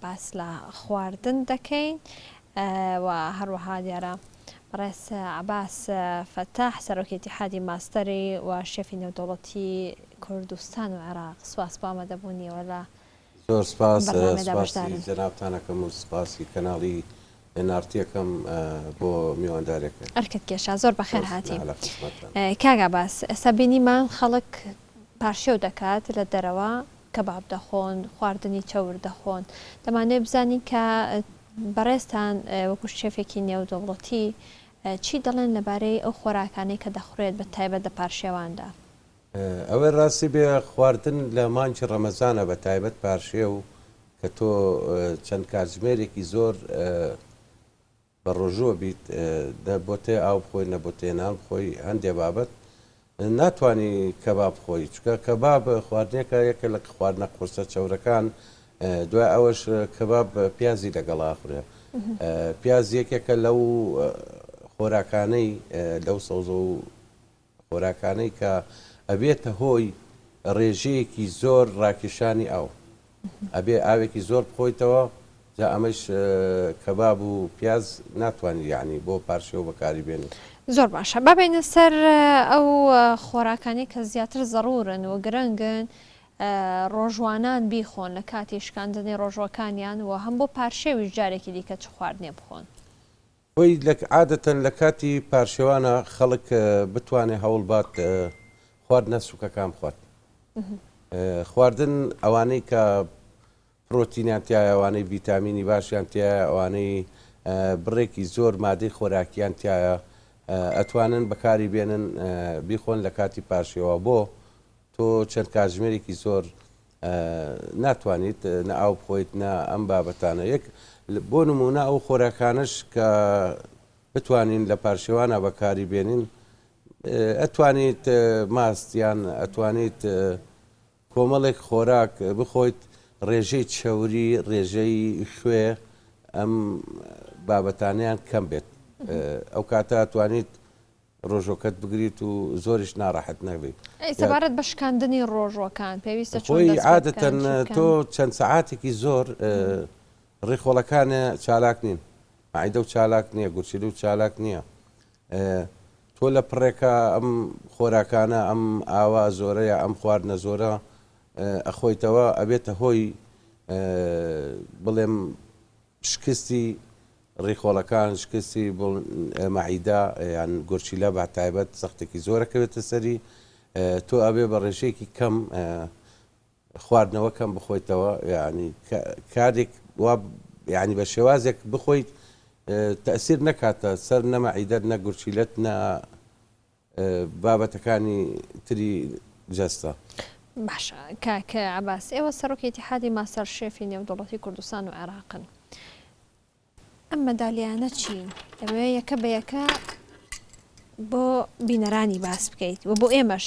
باس لە خواردن دەکەین و هەروەها دیارە بەڕێز عەباس فەتاح سەرۆکی ئیتیحادی ماستەری و شێفی نێودەوڵەتی کوردستان و عێراق سوپاس بۆ ئامادەبوونیەوە لە زۆر سپاس سپاسی جەنابتان ئەکەم و سپاسی کەناڵی پێنارتیەکەم بۆ میواندارێکە. ئەرکت کێشا زۆر بەخێر هاتی. لە خزمەتتان. کاک عباس ئێستا بینیمان خەڵک پارشێو دەکات لە دەرەوە کەباب دەخۆن خواردنی چەور دەخۆن دەمانەوێت بزانین کە بەڕێزتان وەکو شێفێکی نێودەوڵەتی چی دەڵێن لەبارەی ئەو خۆراکانەی کە دەخورێت بە تایبەت لە پارشێواندا؟ ئەوەی ڕاستی بێ خواردن لە مانگی ڕەمەزانە بە تایبەت پارشێو کە تۆ چەند کاتژمێرێکی زۆر بە ڕۆژووە بیت نە بۆ تێ ئاو بخۆی نە بۆ تێنان بخۆی هەندێ بابەت ناتانی کەباب بخۆی چکە کەباب خواردنێکە یەکە لە خواردنە قورسە چەورەکان دوای ئەوەش کەباب پیازی لەگەڵ ئاخورێ پیاز یەکێکە لەو خۆراکانەی لەو سەوزە و خۆراکانەی کە ئەبێتە هۆی ڕێژەیەکی زۆر ڕاکێشانی ئاو ئەبێ ئاوێکی زۆر بخۆیتەوە جا ئەمەش کەباب و پیاز ناتوانانی یعنی بۆ پارشێو بەکاری بێنی زۆر باشە بابینە سەر ئەو خۆراکانی کە زیاتر زەڕورن و گرنگن ڕۆژوانان بیخۆن لە کاتی شکاندنی ڕۆژوەکانیان و هەم بۆ پارشێویش جارێکی دیکە چ خواردنێ بخۆن بۆی لە عادەتەن لە کاتی پارشێوانە خەڵک بتوانێ هەوڵ بات خواردنە سوکەکان بخوات خواردن ئەوانەی کە پرۆتینیان تایە ئەوانەی ڤیتامینی باشیان تایە ئەوانەی بڕێکی زۆر مادەی خۆراکیان تایە ئەتوانن بەکاری بێنن بیخۆن لە کاتی پارشێوە بۆ تۆ چەند کاتژمێرێکی زۆر ناتوانیت نە ئاو بخۆیت نە ئەم بابەتانە یەک بۆ نمونە ئەو خۆراکانش کە بتوانین لە پارشێوانە بەکاری بێنین ئەتوانیت ماستیان ئەتوانیت کۆمەڵێک خۆراک بخۆیت ڕێژەی چەوری ڕێژەی خوێ ئەم بابەتانیان کەم بێت ئەو کاتە توانیت ڕۆژۆکەت بگریت و زۆریش ناڕەحەت نەبیت. ئەی سەبارەت بە شکاندنی ڕۆژۆکان پێویستە چۆن دەست پێ بکەن؟ خۆی عادەتەن تۆ چەند سەعاتێکی زۆر ڕیخۆڵەکانێ چالاک نین، مەعیدەو چالاک نییە، گورچیلەو چالاک نییە، تۆ لە پڕێکا ئەم خۆراکانە ئەم ئاوە زۆرە یا ئەم خواردنە زۆرە ئەخۆیتەوە ئەبێتە هۆی بڵێم، شکستی ڕیخۆڵەکان، شکستی مەعیدە یان گورچیلە بە تایبەت زەختێکی زۆر ئەکەوێتە سەری، تۆ ئەبێ بە ڕێژەیەکی کەم خواردنەوە کەم بخۆیتەوە یعنی کارێک وا یعنی بە شێوازێک بخۆیت تەسیر نەکاتە سەر نەمەعیدەت نە گورچیلت نە بابەتەکانی تری جەستە. باشە کاک عەباس ئێوە سەرۆکی ئیتیحادی ماستەر شێفی نێودەوڵەتی کوردستان و عێراقن ئەم مەدالیانە چین دەبێ یەکە بە یەکە بۆ بینەرانی باس بکەیت و بۆ ئێمەش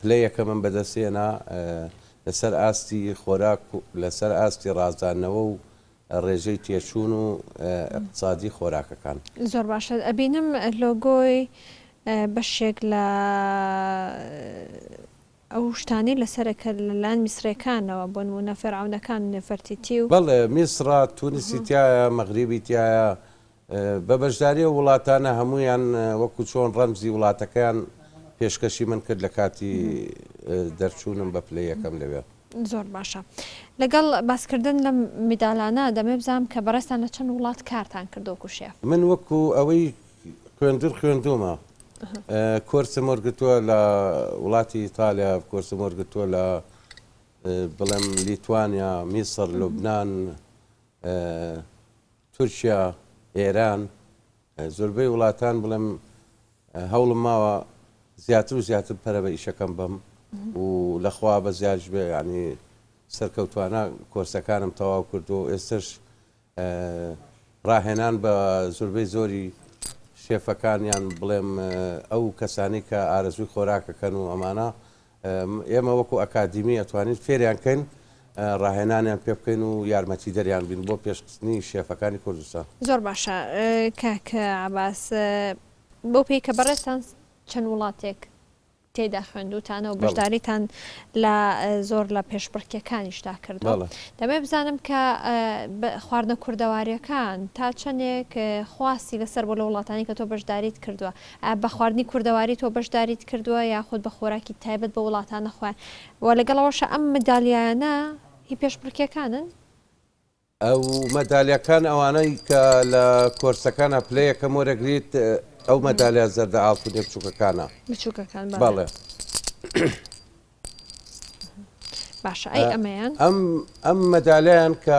پلە یەکەمم بەدەستهێنا لەسەر ئاستی خۆراک و لەسەر ئاستی ڕازاندنەوە و ڕێژەی تێچوون و ئیقتسادی خۆراکەکان. زۆر باشە ئەبینم لۆگۆی بەشێک لە ئەو شتانەی لەسەرە کە لەلایەن میسڕیەکانەوە بۆنموونە فێرعەونەکان نێفەرتیتی و. بەڵێ میسڕە، تونسی تیایە، مەغریبی تیایە، بە بەشداری ئەو وڵاتانە هەموویان وەکو چۆن ڕەمزی وڵاتەکەیان پێشکەشی من کرد لە کاتی دەرچوونم بە پلەی یەکەم لەوێ. زۆر باشە. لەگەڵ باسکردن لەم میدالانە دەمەوێ بزانم کە بەڕێزتان لە چەند وڵات کارتان کردووە وەکو شێف؟ من وەکو ئەوەی خوێندن خوێندوومە کۆرسم وەرگرتووە لە وڵاتی ئیتالیا، کۆرسم وەرگرتووە لە بڵێم لیتوانیا، میسر، لوبنان، تورکیا، ئێران، زۆربەی وڵاتان بڵێم هەوڵم ماوە زیاتر و زیاتر پەرە بە ئیشەکەم بەم و لەخوا بە زیادش بێ ینی سەرکەوتوانە کۆرسەکانم تەواو کردو ئێستش ڕاهێنان بە زوربەی زۆری شێفەکانیان بڵێم ئەو کەسانی کە ئارەزوی خۆراکەکەن و ئەمانە ئێمە وەکو ئەکادیمی ئەتوانین فێریان کەین ڕاهێنانیان پێ بکەین و یارمەتیدەریان بین بۆ پێشخستنی شێفەکانی کوردستان. زۆر باشە کاک عەباس بەو پێی کە بەڕێزتان چەند وڵاتێک تێدا خوێندوتانە و بەشداریتان لە زۆر لە پێشبڕکێکانیشدا کردووە دەمێ بزانم کە خواردنە کوردەواریەکان تا چەندێک خواستی لەسەر بۆ لە وڵاتانی کە تۆ بەشداریت کردووە ئایا بە خواردنی کوردەواری تۆ بەشداریت کردووە یاخود بە خۆراکی تایبەت بە وڵاتانە خۆیان؟ وە لەگەڵ ئەوەشا ئەم مەدالیایانە هی پێشبڕکێکانن؟ ئەو مەدالیاکان ئەوانەی کە لە کۆرسەکانە پلە یەکەم وەرەگریت ئەو مەدالیا زەردە ئاڵتونیە بچوکەکانە بچوکەکان بەڵێ بەڵێ باشە ئەی ئەمەیان؟ ئەم ئەم مەدالیان کە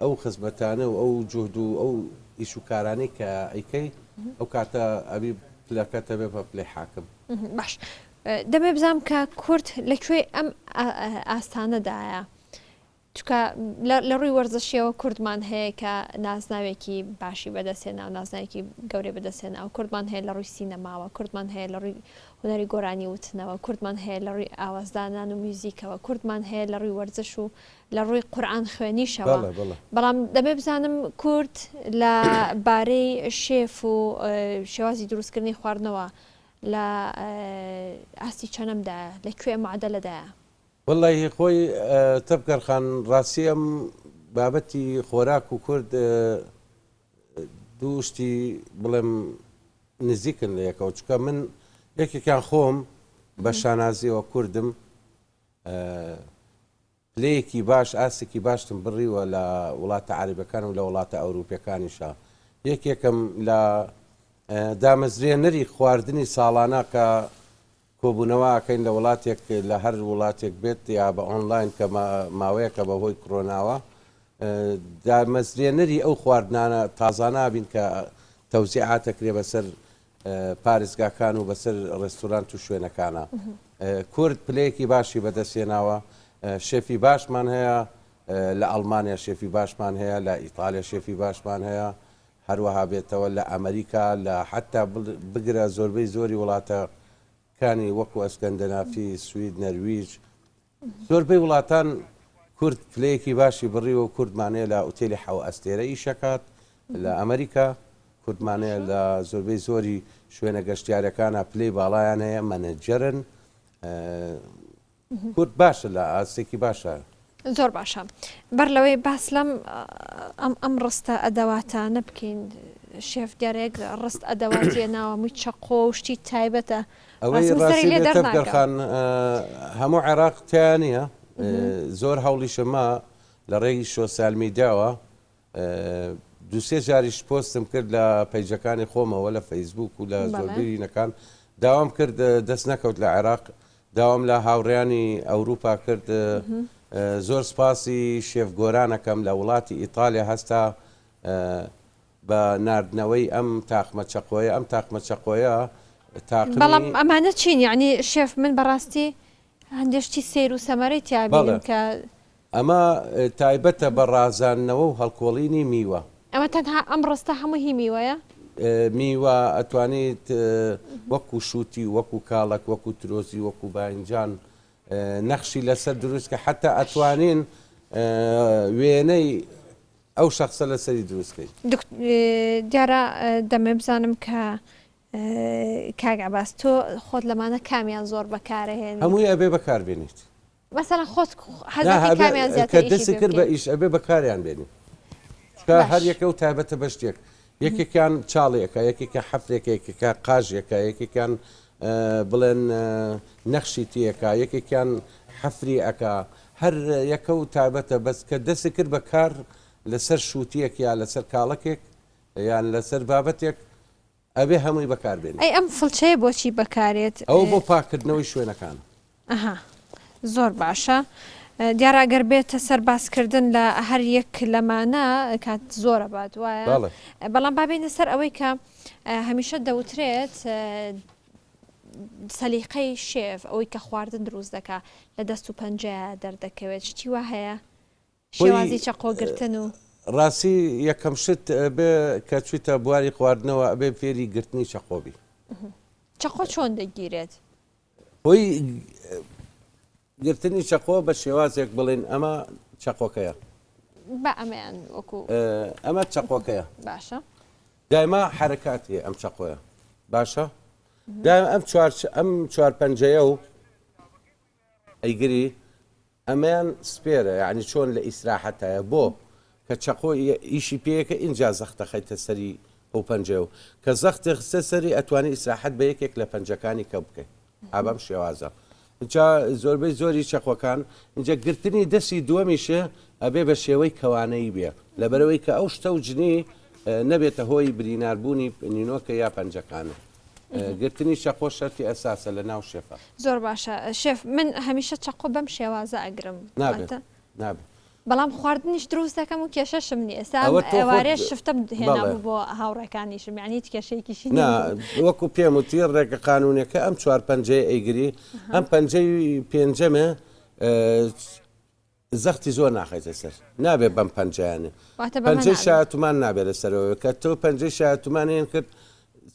ئەو خزمەتانە و ئەو جوهد و ئەو ئیش و کارانەی کە ئەیکەی ئەو کاتە ئەبی پلەکە تەبێ بە پلەی حاکم. باش دەمێ بزام کە کورد لە کوێی ئەم ئاستانەدایە چکە لە ڕووی وەرزشیەوە کوردمان هەیە کە نازناوێکی باشی بەدەستێ ناو نازناوێکی گەورەی بەدەستێن ئەو کوردمان هەیە لە ڕووی سینەماوە کوردمان هەیە لە ڕووی هوەری گۆرانی وتنەوە کوردمان هەیە لە ڕووی ئاوازدانان و میوزیکەوە کوردمان هەیە لە ڕووی وەرزش و لە ڕووی قورئان خوێنیشەوە بەڵێ بەڵێ. بەڵام دەبێ بزانم کورد لە بارەی شێف و شێوازی دروست کردنی خواردنەوە لە ئاستی چەنەم دایە لە کوێ معدەلە دایە؟ وەللەی هی خۆی تەڤگەر خان ڕاستی ئەم بابەتی خۆراک و کورد دوو شتی بڵێم نزیکن لە یەکەوە چونکە من یەکێکیان خۆم بە شانازیەوە کوردم پلەیەکی باش ئاستێکی باشتم بڕیوە لە وڵاتە عەرەبەکان و لە وڵاتە ئەوروپیەکانیشا یەکێکم لە دامەزرێنەری خواردنی ساڵانە کە کۆبوونەوە ئەکەین لە وڵاتێک لە هەر وڵاتێک بێت یا بە ئۆنلاین کە ماوەیەکە بە هۆی کرۆناوە دامەزرێنەری ئەو خواردنانە تازانابین کە تەوزیعاتەکرێ بەسەر پارێزگاکان و بەسەر ڕێستورانت و شوێنەکانە. کورد پلەیەکی باشی بەدەستهێناوە، شێفی باشمان هەیە، لە ئەڵمانیا شێفی باشمان هەیە، لە ئیتاڵیا شێفی باشمان هەیە، هەروەها بێتەوە لە ئەمریکا، لە حەتتا بگرە زۆربەی زۆری وڵاتەکانی وەکو ئەسکەندەنافی، سوید، نەرویج، زۆربەی وڵاتان کورد پلەیەکی باشی بڕیوە و کورد مانەیە لە ئوتێلی حەو ئەستێرە ئیشەکات لە ئەمریکا، کورد مانەیە لە زۆربەی زۆری شوێنە گەشتیارەکانا پلەی باڵایان هەیە مەنەجەرن کورد باشە لە ئاستێکی باشە. زۆر باشە بەر لەوەی باس لەم ئەم ئەم ڕستە ئەدەواتانە بکەین شێفگەرێک ڕست ئەدەواتیە ناوەمووی چەقۆ و شتی تایبەتە ئەوەی ڕاستی تەبگەر خان هەموو عێراق تیا نییە زۆر هەوڵیشەما لە ڕێگی شۆسیالمی داوە دوسێ جاریش پۆستم کرد لە پەیجەکانی خۆمەوە لە فەیسبوک و لە زۆربیینەکان داوام کرد دەست نەکەوت لە عێراق داوام لە هاوڕیانی ئەوروپا کرد زۆر سپاسی شێف گۆرانەکەم لە وڵاتی ئیتالیا هەستا بە ناردنەوەی ئەم تاقمە چەقۆیە ئەم تاقمە چەقۆیە تاقمی. بەڵام ئەمانە چین یەعنی شێف من بەڕاستی هەندێ شتی سەیر و سەمەرەی تیا بینم بەڵێ کە. ئەمە تایبەتە بە ڕازاندنەوە و هەڵکۆڵینی میوە. ئەمە تەنها ئەم ڕستە هەموو هی میوەیە؟ میوە ئەتوانیت وەکو شوتی وەکو کاڵەک وەکو ترۆزی وەکو باینجان نەخشی لەسەر دروست کە حەتا ئەتوانین وێنەی. ئەو شەخسە لە سەری دروست کەی. دکت دیارە دەمەوێ بزانم کە کاک عەباس تۆ خۆت لەمانە کامیان زۆر بەکارە هێنی؟ هەمووی ئەبێ بەکار بێنیت. مەسەلەن خۆت حەزەکەی کامیان زیاتر ئیشی پێ بکەی؟ کە دەستی کرد بە ئیش ئەبێ بەکاریان بێنی. چونکە هەر یەکە و تایبەتە بە شتێک. یەکێکیان چاڵی ئەکا، یەکێکیان حەفرێکە، یەکێکیان قاژی ئەکا، یەکێکیان بڵێن نەخشی تیەکا یەکێکیان حەفری ئەکا هەر یەکە و تابەتە بەس کە دەستی کرد بە کار لەسەر شووتیەک یا لەسەر کاڵەکێک یان لەسەر بابەتێک ئەبێ هەمووی بەکار بێنی. ئەی ئەم فڵچەیە بۆچی بەکارێت؟ ئەوە بۆ پاکردنەوەی شوێنەکانە. ئەها زۆر باشە دیارە ئەگەر بێتە سەر باسکردن لە هەر یەک لەمانە کات زۆرە بات وایە بەڵێ بەڵام بابێنە سەر ئەوەی کە اه، هەمیشە دەوترێت اه، سەلیقەی شێف ئەوەی کە خواردن دروست دەکا لە دەست و پەنجەیە دەردەکەوێت شتی وا هەیە شێوازی چەقۆ گرتن و. ڕاستی یەکەم شت ئەبێ کە چویتە بواری خواردنەوە ئەبێ فێری گرتنی چەقۆ بی. چەقۆ چۆن دەگیرێت؟ هۆی گرتنی چەقۆ بە شێوازێک بڵێن ئەمە چەقۆکەیە. بە ئەمەیان وەکو ئەمە چەقۆکەیە باشە دایما حرکاتی ئەم چەقۆیە باشە دایم ئەم چوار ئەم چوار پەنجەیە و ئەیگری ئەمەیان سپێرە یەعنی چۆن لە ئیسراحەتایە بۆ کە چەقۆ ئیشی پێیەکە ئینجا زەختە خەیتە سەری ئەو پەنجەیەو کە زەختی خستە سەری ئەتوانی ئیسراحەت بە یەکێک لە پەنجەکانی کەم بکەی ئا بەم شێوازە ئینجا زۆربەی زۆری چەقۆکان ئینجا گرتنی دەستی دووەمیش ئەبێ بە شێوەی کەوانەیی بێ لەبەرەوەی کە ئەو شتەو جنی نەبێتە هۆی برینار بوونی نینۆکە یا پەنجەکانت. گرتنی چەقۆ شەرتی ئەساسە لە ناو شێفا. زۆر باشە شێف من هەمیشە چەقۆ بەم شێوازە ئەگرم نابێت واتە نابێت بەڵام خواردنیش دروست دەکەم و کێشەشم نییە ئێستا ئەم ئەوە تۆ خۆت ئێوارێ شفتەم بەڵێ هێنابوو بۆ هاوڕێکانیشم یانی هیچ کێشەیەکیشی نا نەبوو وەکو پێم وتی ڕێگە قانونیەکە ئەم چوار پەنجەیە ئەیگری ئەها ئەم پەنجەی پێنجەمە ئە، زەختی زۆر ناخەیتە سەر. نابێ بەم پەنجەیانە. واتە بەمە پەنجەی نابێ. شایەتومان نابێ لەسەرەوەی کە تۆ پەنجەی شایەتومانیان کرد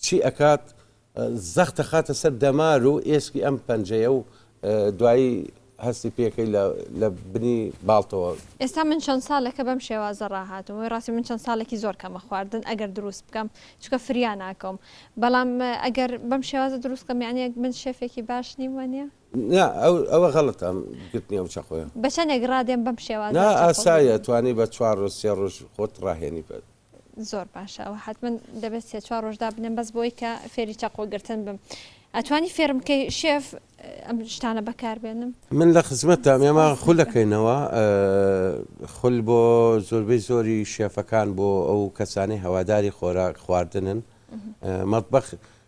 چی ئەکات زەخت ئەخاتە سەر دەمار و ئێسکی ئەم پەنجەیە و دوایی هەستی پێکەی لە لە بنی باڵتەوە. ئێستا من چەند سالێکە بەم شێوازە راهاتووم وەی راستی من چەند سالێکی زۆر کەمە خواردن ئەگەر دروست بکەم چونکە فریا ناکەوم بەڵام ئەگەر بەم شێوازە دروست کەم یانی من شێفێکی باش نیم وانیە؟ نا ئەوە غەڵەتە گرتنی ئەو چەقۆیە. بە چەنێک ڕادێم بەم شێوازە نا چەقۆ ئاسایە بگرم؟ توانی بە چوار ڕۆژ سێ ڕۆژ خۆت ڕاهێنی بە. زۆر باشە ئەوە حەتمەن دەبێت سێ چوار ڕۆژ دابنێم بەس بۆی کە فێری چەقۆ گرتن بم ئەتوانی فێرم بکەی شێف ئەم شتانە بەکار بێنم؟ من لە خزمەتتام ئێمە سوپاس خول دەکەم. ئەکەینەوە خول بۆ زۆربەی زۆری شێفەکان بۆ ئەو کەسانەی هەواداری خۆراک خواردنن مەتبەخ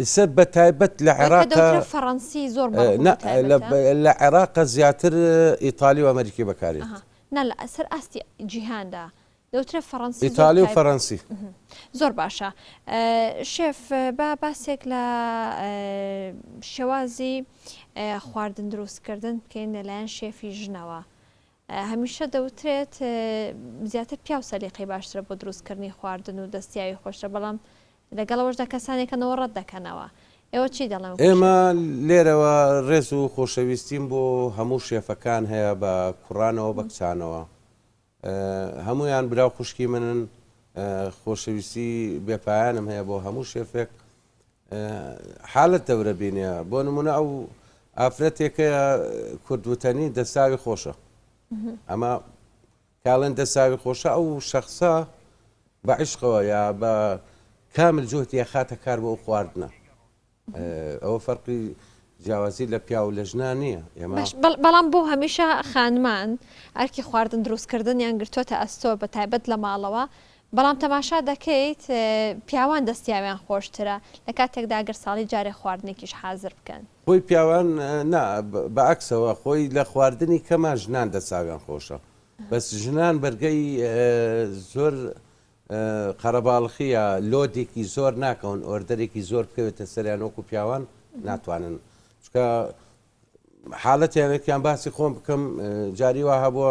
ئیسە بە تایبەت لە عێراق. کە دەوترێ فەڕەنسی زۆر بە ڕوونی تایبەتە. نا، لە عێراق زیاتر ئیتالی و ئەمەریکی بەکاردێت. نا، لە سەر ئاستی جیهاندا دەوترێ فەڕەنسی زۆر. ئیتالی و فەڕەنسی. زۆر باشە. شێف با باسێک لە شێوازی خواردن دروستکردن بکەین لەلایەن شێفی ژنەوە. هەمیشە دەوترێت زیاتر پیاو سەلیقەی باشترە بۆ دروستکردنی خواردن و دەستیاوی خۆشترە بەڵام لەگەڵ ئەوەشدا کەسانێک هەن ئەوە ڕەت دەکەنەوە. ئێوە چی دەڵێن وەکو ئێمە شێف؟ لێرەوە ڕێز و خۆشەویستیم بۆ هەموو شێفەکان هەیە بە کوڕانەوە بە کچانەوە هەموویان برا و خوشکی منن خۆشەویستی بێ پایانم هەیە بۆ هەموو شێفێک حالت دەورە بینێ بۆ نمونە ئەو ئافرەتێکەیە کوردوتەنی دەساوی خۆشە ئەمە کاڵێن دەساوی خۆشە ئەو شخصە بە عیشقەوە یا بە کامل جوهتیە خاتە کار بۆ ئەو خواردنە ئەوە فەرقی جیاوازی لە پیا و لە ژنا نییە بەڵام بۆ هەمیشە خانمان ئەرکی خواردن دروستکردن یان گرتووەتە ئەستۆ بە تایبەت لە ماڵەوە بەڵام تەماشا دەکەیت پیاوان دەستیاویان خۆشترە، لە کاتێکدا گەر ساڵی جارێ خواردنێکیش حازر بکەن. خۆی پیاوان نا، بە عەکسەوە، خۆی لە خواردنی کەما ژنان دەستاویان خۆشە، بەس ژنان بەرگەی زۆر قەرەباڵخییە، لۆدێکی زۆر ناکەون، ئۆردەرێکی زۆر بکەوێتە سەریان وەکو پیاوان ناتوانن، چونکە حاڵەتیان، وەکیان باسی خۆم بکەم، جاری وا هەبووە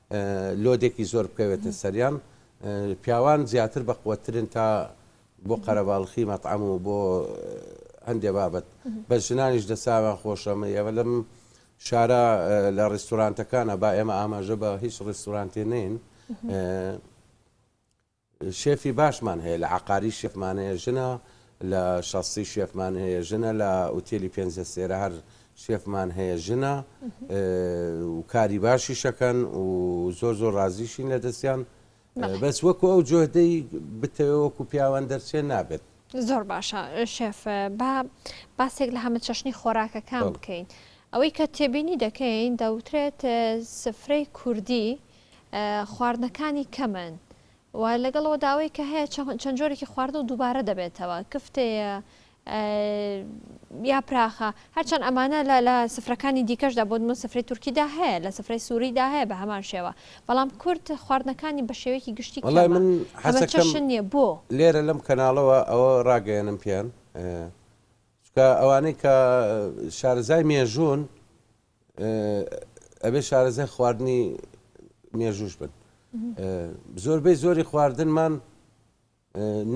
لۆدێکی زۆر بکەوێتە سەریان پیاوان زیاتر بە قوەترن تا بۆ قەرەباڵخی مەتعام و بۆ هەندێ بابەت بە ژنانیش دەساوان خۆشەمە ئێوە لەم شارە لە ڕیستورانتەکانە با ئێمە ئاماژە بە هیچ ڕیستورانتێ نین شێفی باشمان هەیە لە عەقاری شێفمان هەیە ژنە لە شەستی شێفمان هەیە ژنە لە ئوتێلی پێنج ئەستێرە هەر شێفمان هەیە ژنە و کاری باشیشەکەن و زۆر زۆر ڕازیشین لە دەستیان بەس وەکو ئەو جۆدەی بتەوە وەکو پیاوان دەرچێ نابێت زۆر باشە شێف با باسێک لە هەمە چەشنی خۆراکەکان بکەین ئەوەی کە تێبینی دەکەین دەوترێت سفرەی کوردی خواردنەکانی کەمن و لەگەڵ ئەوەدا ئەوەی کە هەیە چەند جۆرێکی خواردن و دووبارە دەبێتەوە کفتەیە یا پراخە هەرچەند ئەمانە لە لە سفرەکانی دیکەشدا بۆ من سفری تورکیدا هەیە لە سفرەی سووریدا هەیە بە هەمان شێوە بەڵام کورد خواردنەکانی بە شێوەیەکی گشتی وەڵای من حەزەکەم نییە بۆ لێرە لەم کەناڵەوە ئەوە ڕاگەیەنم پێیان چکە ئەوانەی کە شارەزای مێژوون ئەبێ شارەزای خواردنی مێژووش بن زۆربەی زۆری خواردنمان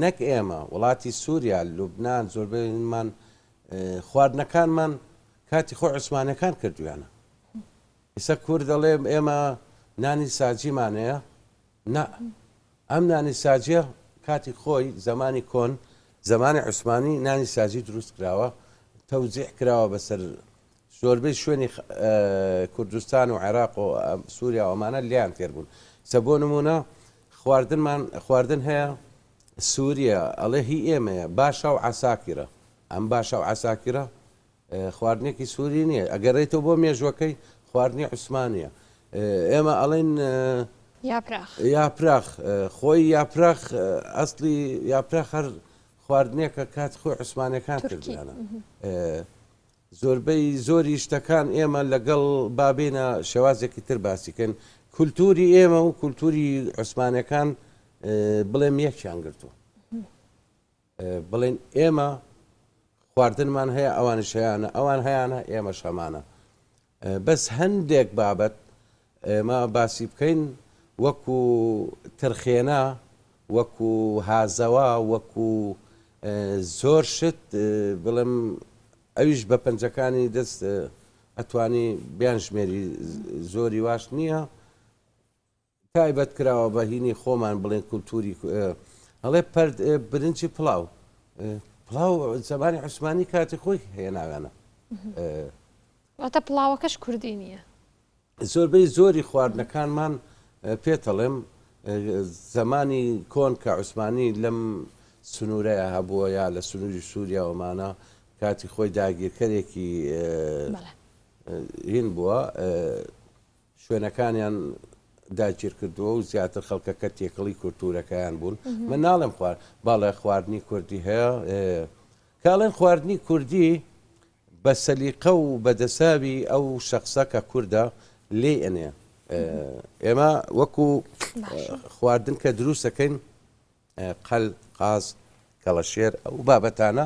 نەک ئێمە وڵاتی سووریا لوبناان زۆربەیمان خواردنەکانمان کاتی خۆ عوسمانەکان کردویانە ئیسە کور دەڵێ ئێمە نانی ساجیمانەیە نا ئەم نانی ساجە کاتی خۆی زمانی کۆن زمانی عوسمانی نانی ساجی دروست کراوە تەوزیح کراوە بەسەر زۆربەی شوێنی کوردستان و عێراق و سوریا و ئەمانە لێیان تێر بوون سە بۆ نمونە خواردنمان خواردن هەیە سووریا ئەڵێ هی ئێمەیە باشە و عساکیرە ئەم باشە و عساکیرە خواردنێکی سووری نییە ئەگەڕێتەوە بۆ مێژوەکەی خواردنی عوسمانە ئێمە ئەڵین یاپراخ خۆی یاپراخ ئەسلی یاپراخ هەر خواردنێکە کات خۆی عوسمانەکان کردیانە زۆربەی زۆری شتەکان ئێمە لەگەڵ با بێینە شێوازێکی تر باسی کەین کولتووری ئێمە و کولتووری عوسمانەکان بڵێم یەکیان گرتووە بڵێن ئێمە خواردنمان هەیە ئەوانش هەیەە ئەوان هەیەە ئێمە شەمانە بەس هەندێک بابەت ئێمە باسی بکەین وەکو ترخێنە وەکو هازەوە وەکو زۆر شت بڵێم ئەویش بە پەنجەکانی دەست ئەتوانی بیانژمێری زۆری واش نییە تایبەت کراوە بە هینی خۆمان بڵێن کولتوری هەڵێ پەرد برنجی پڵاو پڵاو زمانی عوسمانی کاتی خۆی هێناوێنە واتە پڵاوەکەش کوردی نییە زۆربەی زۆری خواردنەکانمان پێتەڵێم زمانی کۆن کە عوسمانی لەم سنوورەیە هەبووە یا لە سنووری سووریاوەمانە کاتی خۆی داگیرکەرێکی هین بووە شوێنەکانیان داگیر کردووە و زیاتر خەڵکەکە تێکەڵی کولتوورەکەیان بوون من ناڵێم خوارد باڵێ خواردنی کوردی هەیە کاڵێن خواردنی کوردی بە سەلیقە و بەدەساوی ئەو شخصە کە کووردە لێ ئەنێ ئێمە وەکو خواردن کە دروستەکەین قەل قاز کەڵەشێر ئەو بابەتانە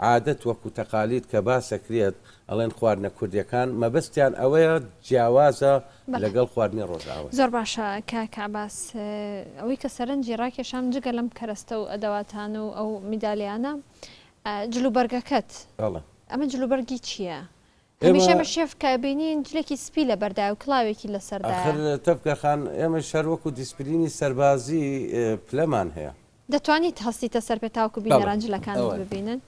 عادەت وەکو تەقالید کە باسەکرێت ئەڵێن خواردنە کوردیەکان مەبەستیان ئەوەیە جیاوازە بەڵێ لەگەڵ خواردنی ڕۆژئاوای. زۆر باشە کاک عەباس ئەوەی کە سەرنجی ڕاکێشام جگە لەم کەرەستە و ئەدەواتانە و ئەو میدالیانە جلوبەرگەکەت بەڵێ. ئەمە جلوبەرگی چیە؟ هەمیشە ئێمە شێف کە ئەبینین جلێکی سپی لەبەردایە و کڵاوێکی لەسەردایە. ئاخر تەڤگە خان ئێمەیش هەر وەکو دیسپلینی سەربازی پلەمان هەیە. دەتوانیت هەستیتە سەر پێ تاوەکو بەڵێ بینەران جلەکانت ئەوەیە. ببینن.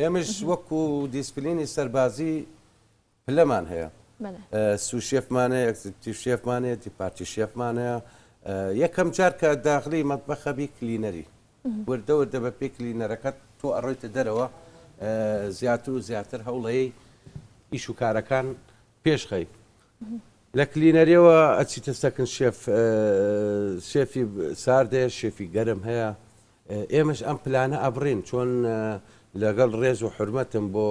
ئێمەیش وەکو دیسپلینی سەربازی پلەمان هەیە. بەڵێ. سو شێفمان هەیە، ئێکزیکوتیڤ شێفمان هەیە، دیپارتی شێفمان هەیە. یەکەم جار کە داخلی مەتبەخ ئەبی کلینەری. وردە وردە بە پێی کلینەرەکەت تۆ ئەڕۆیتە دەرەوە زیاتر و زیاتر هەوڵەیەی ئیش و کارەکان پێشخەی لە کلینەرەوە ئەچیتە سەکن شێف شێفی ساردەیە شێفی گەرم هەیە ئێمەش ئەم پلانە ئەبڕین چۆن لەگەڵ ڕێز و حرمەتم بۆ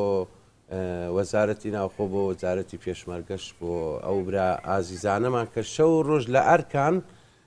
وەزارەتی ناوخۆ بۆ وەزارەتی پێشمەرگەش بۆ ئەو برا ئازیزانەمان کە شەو ڕۆژ لە ئەرکان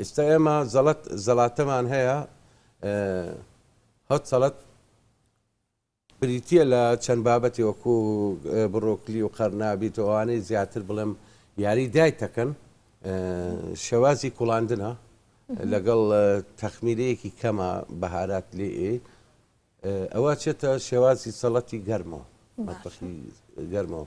ئیستا ئێمە زەڵەت زەڵاتەمان هەیە هەت سەڵەت بریتە لە چەند بابەتی وەکو بڕۆکلی و قەرنابیت و ئەوانەی زیاتر بڵێم یاری دای تەکەن شێوازی کوڵاندنە لەگەڵ تەخمیرەیەکی کەمە بەهارات لێ ئەوە چێتە شێوازی سەڵەتی گەرمەوە گەرمەوە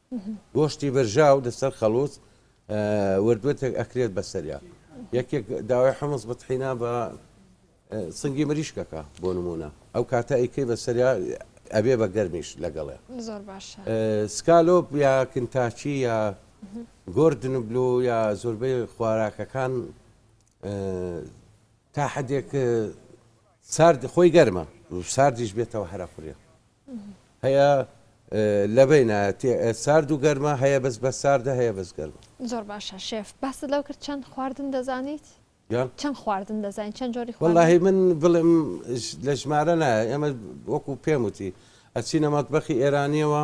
گۆشتی برژاو لەسەر خەڵووز وردوردێک ئەکرێت بەسەریا یەکێک داوای حمز بتحینا بە سنگی مریشکەکە بۆ نمونە ئەو کاتە ئەیکەی بەسەریا ئەبێ بە گەرمیش لەگەڵێ سکالۆپ یا کنتاچی یا گردن بلو یا زۆربەی خواراکەکان تا حدێک سارد خۆی گەرمە و ساردیش بێتەوە هەرە قورێ هەیە لەبەی نایەتی سارد و گەرمە هەیە بەس بە ساردە هەیە بەس گەرمە زۆر باشە شێف باست لەو کرد چەند خواردن دەزانیت چەند خواردن دەزانین چەند جۆری خۆڵی من بڵێم لە ژمارە نایە ئێمە وەکو پێم وتی ئەچینە مەتبەخی ئێرانیەوە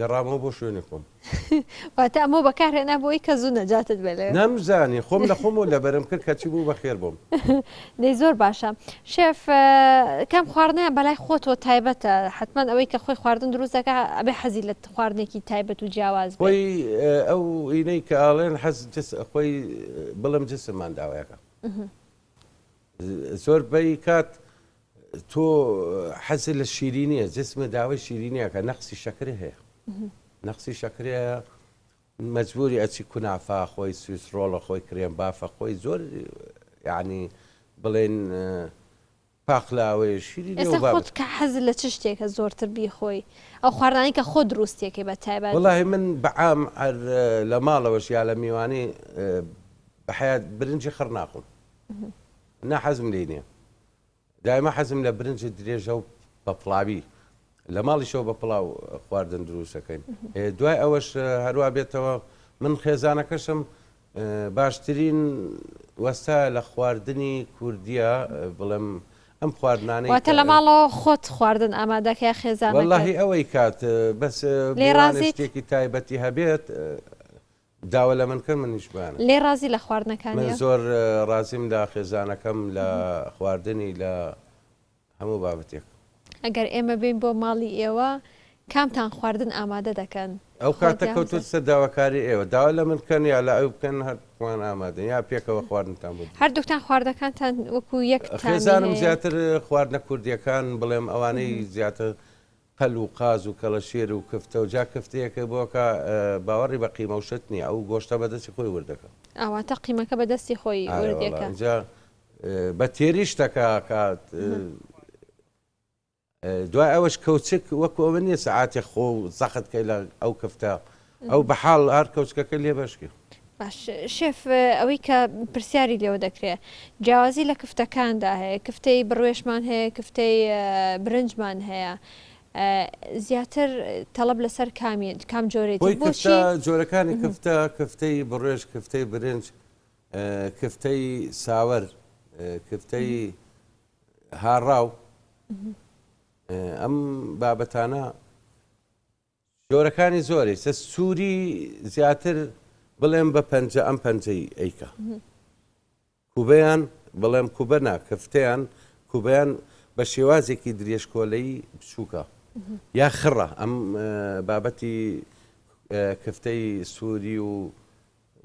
گەڕامەوە بۆ شوێنی خۆم. واتە ئەمەو بەکارهێنا بۆی کە زوو نەجاتت بێ لەوێ. نەمزانی خۆم لە خۆمەوە لەبەرم کرد کەچی بوو بە خێر بۆم. دەی زۆر باشە. شێف کام خواردنەیان بەلای خۆتەوە تایبەتە؟ حەتمەن ئەوەی کە خۆی خواردن دروست دەکا ئەبێ حەزی لە خواردنێکی تایبەت و جیاواز بێ. خۆی ئەو ئینەی کە ئاڵێن حەز جس خۆی بڵێم جسم مانداوەکە زۆر پەی کات تۆ حەزت لە شیرینیە جسمە داوای شیرینیەکە نەقسی شەکرە هەیە نەقسی شەکرە مەجبوری ئەچی کونافا خۆی سویس ڕۆڵە خۆی کرێن بافە خۆی زۆر یعنی بڵێن پاقلاوەیە شیری خۆت کە حەز لە چ شتێکە زۆرتر بیخۆی ئەو خواردانی کە خۆ دروستێکی بە تایبەت وڵی من بەعام لە ماڵەوەش یا لە میوانی بەحیات برنجی خڕ ناخۆم ناحەزم لینە دایمە حەزم لە برنج درێژە و بە پڵاوی لە ماڵیشەوە بە پڵاو خواردن دروستەکەین دوای ئەوەش هەروە بێتەوە من خێزانەکەشم باشترین وەستا لە خواردنی کوردیا بڵێم ئەم خواردنانەی تە لە ماڵەوە خۆت خواردن ئامادەکە خێزان واللهی ئەوەی کات بەس لێڕازێکی تایبەتی هەبێت داوا لە من کەن منیش بانە. لێ ڕازی لە خواردنەکانیە؟ من زۆر ڕازیم لە خێزانەکەم لە خواردنی لە هەموو بابەتێک. ئەگەر ئێمە بێین بۆ ماڵی ئێوە کامتان خواردن ئامادە دەکەن؟ ئەو کاتە کەوتۆتە داواکاری ئێوە داوا لە من کەن یا لە ئەو بکەن هەردووکمان ئامادەین یا پێکەوە خواردنتان بۆ بکەین. هەردووکتان خواردنەکانتان وەکو یەک تامی هەیە؟ خێزانم زیاتر خواردنە کوردیەکان بڵێم ئەوانەی زیاتر پەل و قاز و کەڵەشێر و کفتە و جا کفتەیەکە بۆ کە باوەڕی بە قیمە و شت نیە ئەو گۆشتە بە دەستی خۆی ورد دەکا. ئا واتە قیمەکە بە دەستی خۆی ورد ئارەوەڵا دەکا. ئینجا بە تێری شتەکە ئەکات. ئه. دوای ئەوەش کەوچک وەکو ئەوە نیە سەعاتێ خۆ زەخت کەی لە ئەو کفتە ئەو بەحاڵ ئارد کەوچکەکە لێ بەشکێ. باش شێف ئەوەی کە پرسیاری لێوە دەکرێ جیاوازی لە کفتەکاندا هەیە کفتەی بڕوێشمان هەیە کفتەی برنجمان هەیە زیاتر تەڵەب لەسەر کامی کام جۆرێتی بۆچی جۆرەکانی کفتە کفتەی بڕێش کفتەی برنج کفتەی ساوەر کفتەی هاڕاو ئەم بابەتانە جۆرەکانی زۆری سە سوری زیاتر بڵێم بە پەنجە ئەم پەنجەی ئەیکا کوبەیان بڵێم کوبە نا کفتەیان کوبەیان بە شێوازێکی درێژ کۆلەی بچووکە یا خڕە ئەم بابەتی کفتەی سووری و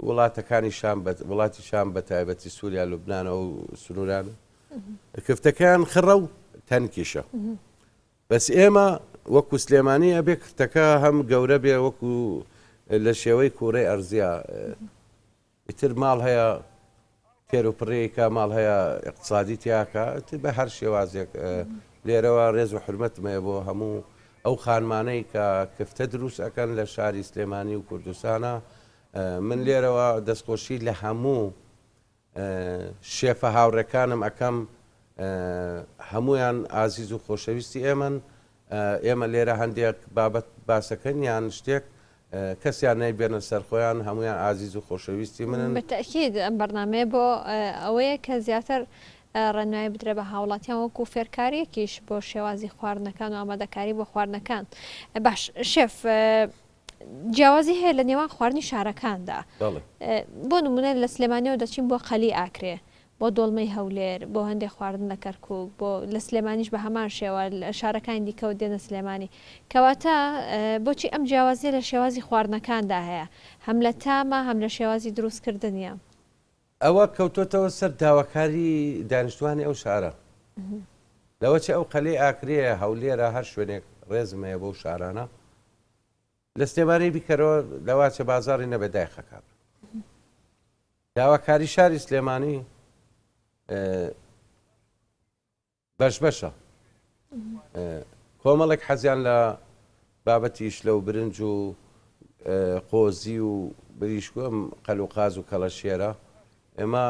وڵاتەکانی شام وڵاتی شام بە تایبەتی سووریا لوبناانەوە و سنووران کفتەکان خڕە و تەنکیشە بەس ئێمە وەکو سلێمانی ئەبێ کرتەکە هەم گەورە بێ وەکو لە شێوەی کوورەی ئەرزیا ئیتر ماڵ هەیە تێرو پڕێکە ماڵ هەیە اقتصادی تیاکە ئیتر بە هەر شێوازێک لێرەوە ڕێز و حرمەتمەیە بۆ هەموو ئەو خانمانەی کە کفتە دروست ئەەکەن لە شاری سلێمانی و کوردستانە من لێرەوە دەستخۆشی لە هەموو شێفە هاوڕێکانم ئەکەم هەموویان ئازیز و خۆشەویستی ئێمەن ئێمە لێرە هەندێک بابەت باسەکەن یان شتێک کەسیان نەیبێنە سەرخۆیان هەمویان ئازیز و خۆشەویستی منن بەتەکید ئەم بەرنمەیە بۆ ئەوەیە کە زیاتر ڕێنمایی بدرێ بە هاوڵاتیان وەکو فێرکاریەکیش بۆ شێوازی خواردنەکان و ئامادەکاری بۆ خواردنەکان باش شێف جیاوازی هەیە لە نێوان خواردنی شارەکاندا بۆ نمونە لە سلێمانیەوە دەچین بۆ قەلی ئاکرێ بۆ دۆڵمەی هەولێر بۆ هەندێک خواردن لە کەرکک بۆ لە سلێمانیش بە هەمان شێوە شارەکانی دیکەوت دێنە سلێمانی کەواتە بۆچی ئەم جیاوازیە لە شێوازی خواردنەکاندا هەیە هەم لە تامە هەم لە شێوازی دروستکردنیە ئەوە کەوتۆتەوە سەر داواکاری دانیشتوانی ئەو شارە لەوە چ ئەو قەلەی ئاکرەیە هەولێرە هەر شوێنێک ڕێزم هەیە بەو شارانە لە سلێمانی بیکەرەوە لەواچە بازاری نەبێ دایخەکان داواکاری شاری سلێمانی بەش بەشە کۆمەڵێک حەزیان لە بابەتی شلە و برنج و قۆزی و بریشکو ئەم قەل و قاز و کەڵەشێرە ئێمە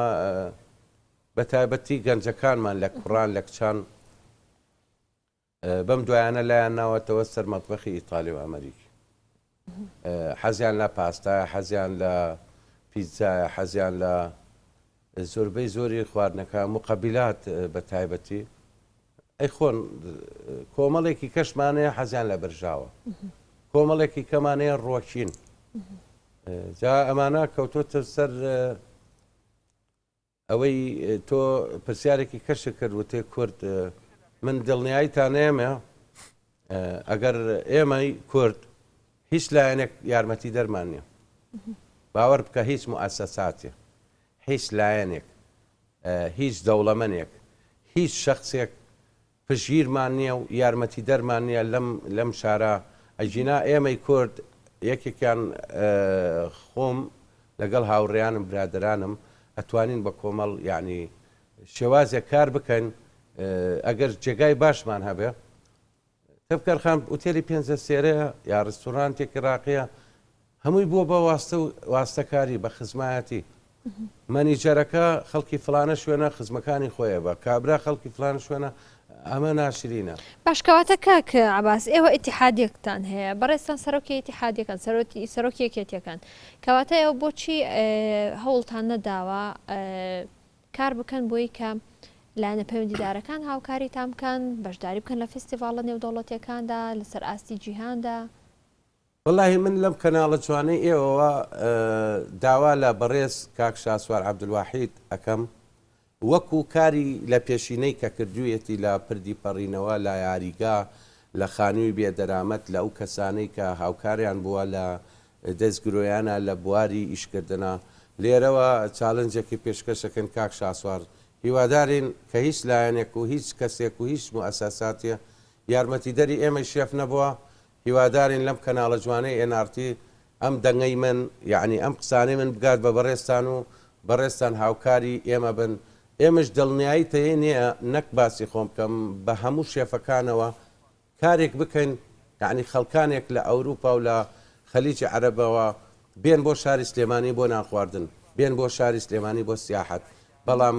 بە تایبەتی گەنجەکانمان لە کوڕان لە کچان بەم دوایانە لایان ناوەتەوە سەر مەتبەخی ئیتالی و ئەمریکی حەزیان لە پاستایە حەزیان لە پیتزایە حەزیان لە زۆربەی زۆری خواردنەکە موقەبیلات بە تایبەتی ئەیخۆن کۆمەڵێکی کەشمانەیە حەزیان لە بەرژاوە کۆمەڵێکی کەمانەیە ڕۆکین جا ئەمانە کەوتۆتە سەر ئەوەی تۆ پرسیارێکی کەشت کرد وتێ کورد من دڵنیایی تانێمێ ئەگەر ئێمەی کورد هیچ لایەنێک یارمەتی دەرمان نیە باوەڕ بکە هیچ موئسساتێ هیچ لایەنێک هیچ دەوڵەمەنێک هیچ شخصێک پشتگیرمان نیە و یارمەتیدەرمان نیە لەم لەم شارە ئەگینا ئێمەی کورد یەکێکیان خۆم لەگەڵ هاوڕێیانم برادەرانم ئەتوانین بە کۆمەڵ یەعنی شێوازێک کار بکەین ئەگەر جێگای باشمان هەبێ تفکر خان ئوتێلی پێنجە سێرەیە یا ڕستورانتێکی ڕاقیە هەمووی بووە بە واستە و واستەکاری، بە خزمایەتی. مەنیجەرەکە خەڵکی فڵانە شوێنە، خزمەکانی خۆی ئەبا. کابرا خەڵکی فڵانە شوێنە، ئەمە ناشرینە. باش کەواتە کاک عەباس ئێوە ئیتیحادیەکتان هەیە، بەڕێزتان سەرۆکی ئیتیحادیەکەن، سەرۆکی یەکێتیەکەن، کەواتە ئێوە بۆچی هەوڵتان نەداوە کار بکەن بۆی کە لایەنە پەیوەندیدارەکان هاوکاریتان بکەن، بەشداری بکەن لە فیستیڤاڵە نێودەوڵەتیەکاندا، لەسەر ئاستی جیهاندا؟ وەلاهی من لەم کەناڵە جوانەی ئێوەوە داوا لە بەڕێز کاک شاسوار عەبدولواحید ئەکەم وەکو کاری لە پێشینەی کە کردویەتی لە پردی پەڕینەوە لە یاریگا لە خانوی بێ دەرامەت لە ئەو کەسانەی کە هاوکاریان بووە لە دەست گرۆیانە لە بواری ئیش کردنە لێرەوە چالنجێکی پێشکەش ئەکەین کاک شاسوار هیوادارین کە هیچ لایەنێک و هیچ کەسێک و هیچ موئەسەساتێ یارمەتیدەری ئێمەی شێف نەبووە هیوادارین لەم کەناڵە جوانەی ئێن ئاڕ تی ئەم دەنگەی من یەعنی ئەم قسانەی من بگات بە بەڕێزتان و بەڕێزتان هاوکاری ئێمە بن ئێمەش دڵنیایی تەیەی نێە نەک باسی خۆم بکەم بە هەموو شێفەکانەوە کارێک بکەین یەعنی خەڵکانێک لە ئەوروپا و لە خلیجی عەرەبەوە بێن بۆ شاری سلێمانی بۆ نان خواردن بێن بۆ شاری سلێمانی بۆ سیاحەت بەڵام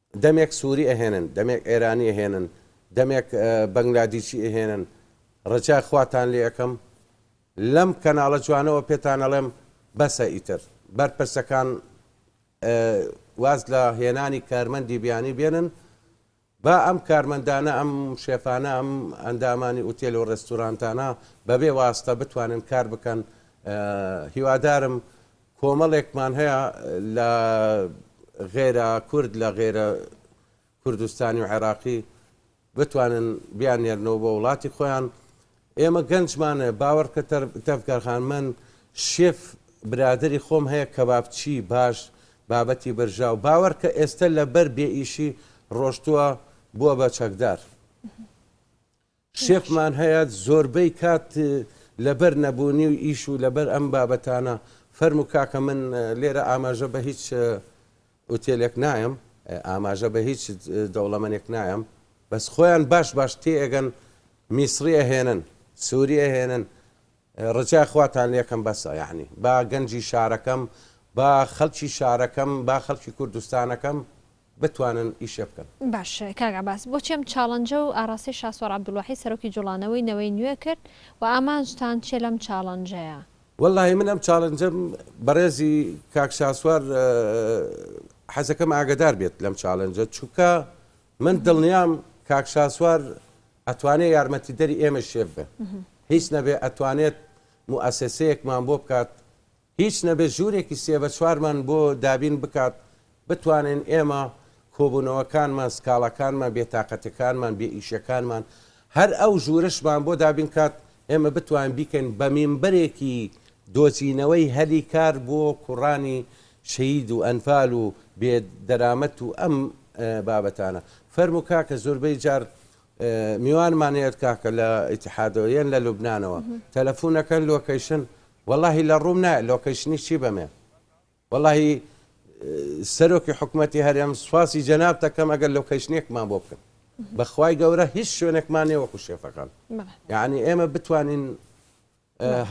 دەمێک سوری ئەهێنن دەمێک ئێرانی ئەهێنن دەمێک بەنگلادیشی ئەهێنن ڕجای خواتان لێ ئەکەم لەم کەناڵە جوانەوە پێتان ئەڵێم بەسە ئیتر بەرپرسەکان واز لە هێنانی کارمەندی بیانی بێنن با ئەم کارمەندانە ئەم شێفانە ئەم ئەندامانی ئوتێل و ڕێستورانتانە بەبێ واستە بتوانن کار بکەن هیوادارم کۆمەڵێکمان هەیە لە غەیرە کورد لە غەیرە کوردستانی و عێراقی بتوانن بیاننێرنەوە بۆ وڵاتی خۆیان ئێمە گەنجمان هەیە باوەڕکە تەفگەرخان من شێف برادری خۆم هەیە کەبابچی باش بابەتی برژاو باوەڕکە ئێستا لەبەر بێئیشی ڕۆشتووە بووە بە چەکدار شێفمان هەیە زۆربەی کات لەبەر نەبوونی و ئیش و لەبەر ئەم بابەتانە فەرموو کاکە من لێرە ئاماژە بە هیچ ئوتێلێک نایەم ئاماژە بە هیچ دەوڵەمەنێک نایەم بەس خۆیان باش باش تێئەگەن میسری ئەهێنن سووری ئەهێنن ڕجای خواتان لێکەم بەسە یەعنی با گەنجی شارەکەم با خەلکی شارەکەم با خەلکی کوردستانەکەم بتوانن ئیشێ بکەن. باش کاک عەباس بۆچی ئەم چاڵنجە و ئاراستەی شاسوار عەبدولواحید سەرۆکی جوڵانەوەی نەوەی نوێ کرد و ئامانجتان چیە لەم چاڵنجەیە؟ وەللەهی من ئەم چاڵنجەم بەڕێزی کاک شاسوار حەزەکەم ئاگەدار بێت لەم چاڵنجە چونکە من دڵنیام کاک شاسوار ئەتوانێ یارمەتیدەری ئێمەی شێف بێ هیچ نەبێ ئەتوانێت موئەسەسەیەکمان بۆ بکات هیچ نەبێ ژوورێکی سێ بە چوارمان بۆ دابین بکات بتوانین ئێمە کۆبوونەوەکانمان سکاڵاکانمان بێتاقەتەکانمان بێ ئیشەکانمان هەر ئەو ژوورشمان بۆ دابین کات ئێمە بتوانین بیکەین بە مینبەرێکی دۆزینەوەی هەلی کار بۆ کوڕانی شەهید و ئەنفال و بێ دەرامەت و ئەم بابەتانە. فەرموو کاکە زۆربەی جار میوانمان هەیەت کاکە لە ئیتحادەوە یەن لە لوبنانەوە تەلەفونەکەن لۆکەیشن وەڵاهی لە ڕووم نایە لۆکەیشنی چی بەمێ وەڵاهی سەرۆکی حکوومەتی هەرێم سوپاسی جەناب دەکەم ئەگەر لۆکەیشنێکمان بۆ بکەن بەخوای گەورە هیچ شوێنێکمان نێوەکو شێفەکان یعنی ئێمە بتوانین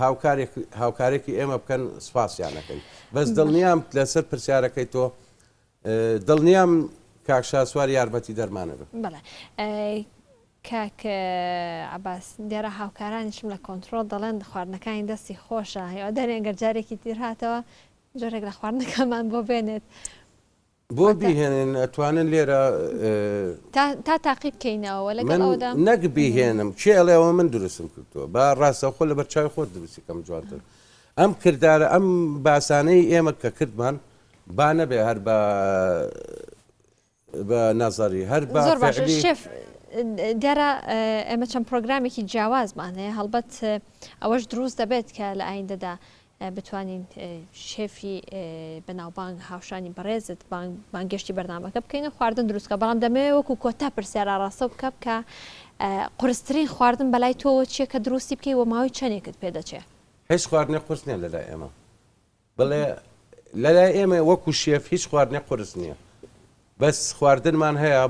هاوکارێک هاوکارێکی ئێمە بکەن سپاسیان نەکەین بەس دڵنیام لەسەر پرسیارەکەی تۆ دڵنیام کاکشاسوار یارمەتی دەرمانە بن کاکە عباس دیارە هاوکارانیشم لە کۆنتترۆل دەڵێن خواردنەکانی دەستی خۆشە هیوادارێن گەرجارێکی تیر هاتەوە جۆرێک لە خواردنەکەمان بۆ بێنێت بۆ بیهێنن ئەتوانن لێرە تا تاقی بکەینەوە لەگەڵ ئەودا من نەک بیهێنم کێ ئەڵێ ئەوە من دروستم کردووە با ڕاستەخۆ لە بەرچاوی خۆت دروستی کەم جوانتر ئەم کردارە ئەم باسانەی ئێمە کە کردمان با نەبێ هەر بە بە نەزەری هەر بە زۆر باشە فعلی شێف دیارە ئێمە چەند پرۆگرامێکی جیاوازمان هەیە هەڵبەت ئەوەش دروست دەبێت کە لە ئایندەدا بتوانین شێفی بەناوبانگ هاوشانی بەڕێزت بانگێشتی بەرنامەکە بکەین و خواردن دروستکە بەڵام دەمەوێت وەکو کۆتا پرسیارا ڕاستە بکە بکە قرسترین خواردن بەلای تۆوە چیە کە دروستی بکەی وە ماوەی چەندێکت پێدەچێ هیچ خواردنێ قورس نیە لەلای ئێمە بڵێ لەلای ئێمە وەکو شێف هیچ خواردنێ قورس نییە بەس خواردنمان هەیە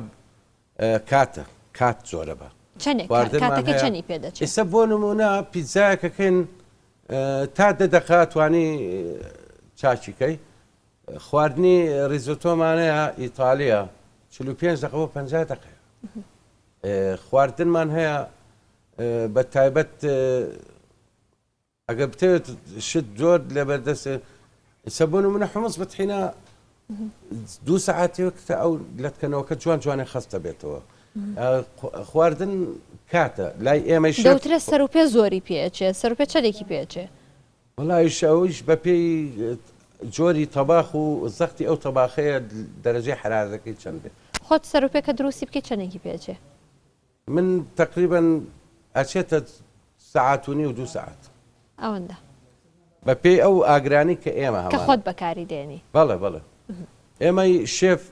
کاتە کات زۆرە بە چەنێک کاتەکەی خواردنمان چەنی هەیە پێ دەچێ؟ ئیسە بۆ نموونە پیتزایەکە کەین تا دە دەقە توانی چاکی کەی خواردنی ریزۆتۆمانەیە ئیتالیە چل و پێنج دەقە بۆ پەنجا دەقەیە خواردنمان هەیە بە تایبەت ئەگەر بتەوێت شت زۆر لەبەر دەست ئیسە بۆ نمونە حمص بتحینا دوو سەعاتێک کە ئەو لەتکەنەوەکە جوان جوانێ خستە بێتەوە خواردن کاتە لای ئێمە دەوترە سەر و پێ زۆری پێچێ سەر پێ چەندێکی پێچێ وڵایش ئەوش بە پێی جۆری تەباخ و زەختی ئەو تەباخەیە دەرەجەی حرارەکەی چەندێ خۆت سەر و پێکە دروستی بکەی چەندێکی پێچێ من تەقریبەن ئەچێتە سەعات و نیو دوو سەعات. ئەوەندە. بە پێی ئەو ئاگرانی کە ئێمە هەمانە. کە خۆت بەکاری دێنی. بەڵێ بەڵێ ئێمەی شێف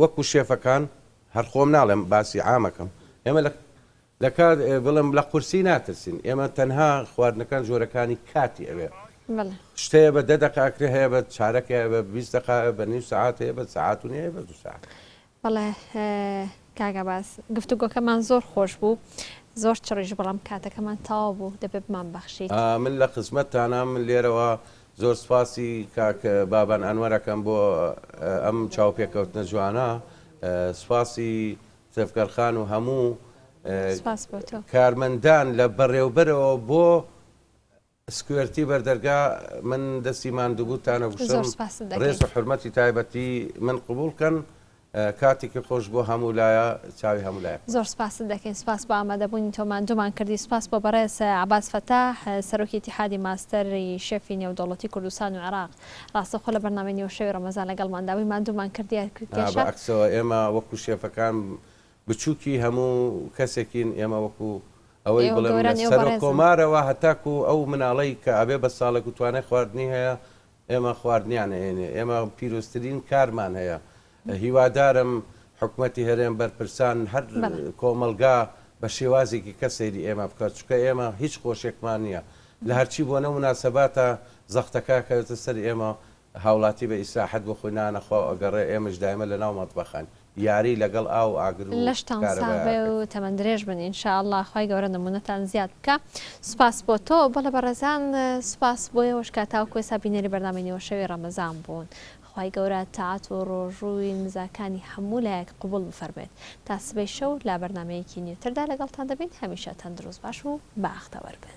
وەکو شێفەکان هەر خۆم ناڵێم باسی عامەکەم ئێمە لە لە کات بڵێم لە قورسی ناترسین ئێمە تەنها خواردنەکان جۆرەکانی کاتی ئەوێ بەڵێ. شت هەیە بە دە دەقە ئەکرێ هەیە بە چارەکێ بە بیست دەقە بە نیو سەعات هەیە بە سەعات و نیو هەیە بە دوو سەعات. بەڵێ کاک عەباس گفتوگۆکەمان زۆر خۆش بوو زۆر چڕیش بەڵام کاتەکەمان تەواو بوو دەبێ بمانبەخشیت. من لە خزمەتتانام من لێرەوە زۆر سوپاسی کاک بابان ئەنوەر ئەکەم بۆ ئەم چاوپێکەوتنە جوانە سوپاسی تێڤکەر خان و هەموو سوپاس بۆ تۆ. کارمەندان لە بەڕێوبەرەوە بۆ. سکوێرتی بەردەرگا من دەستی ماندوبوتان ئەگوشم ڕێز و حورمەتی تایبەتی من قبوڵ کەن کاتیکی خۆش بۆ هەموو لایە چاوی هەموو لایە خۆش. زۆر سپاست دەکەین سپاس بۆ ئامادەبوونی تۆ ماندوومان کردی سپاس بۆ بەڕێز عەباس فەتاح سەرۆکی ئیتیحادی ماستەر ی شێفی نێودەوڵەتی کوردستان و عێراق ڕاستەوخۆ لە بەرنامەی نیوەشەوی ڕەمەزان لەگەڵماندا بووی ماندوومان کردیە کێشە. بە عەکسەوە ئێمە وەکو شێفەکان بچوکی هەموو کەسێکین ئێمە وەکو ئەوەی بڵێم لە سەرۆک کۆمارەوە هەتاکو ئەو مناڵەی کە ئەبێ بە ساڵێکو توانای خواردنی هەیە ئێمە خواردنیان ئەیەنێ ئێمە پیرۆزترین کارمان هەیە هیوادارم حکومەتی هەرێم بەرپرسان هەر کۆمەلگا بە شێوازێکی کە سەیری ئێمە بکات چکە ئێمە هیچ خۆشێکمان نییە لە هەرچی بۆنە مناسەباتە زەختەکە کەوێتە سەر ئێمە هاوڵاتی بە ئیسراحەت بۆ خۆی نانە خواو ئەگەڕێ ئێمەش دایمە لە ناو مەتبەخەن یاری لەگەڵ ئاو و ئاگر و لەشتان ساغ کارەبای بێ و ئاکەن. تەمەن درێژ بن ان شاء اللە خوای گەورە نمونەتان زیاد بکا سوپاس بۆ تۆ بەڵێ بەڕێزان سوپاس بۆ ئێوەش کە تاوەکو ئێستا بینەری بەرنامەی نیوەشەوی ڕەمەزان بوون خوای گەورە تاعەت و ڕۆژووی نزاکانی هەموو لایەک قبوڵ بفەرموێت تا سبەی شەو لە بەرنامەیەکی نیوتردا لەگەڵتان دەبین هەمیشە تەندروست باش و بەاختەوەر بن.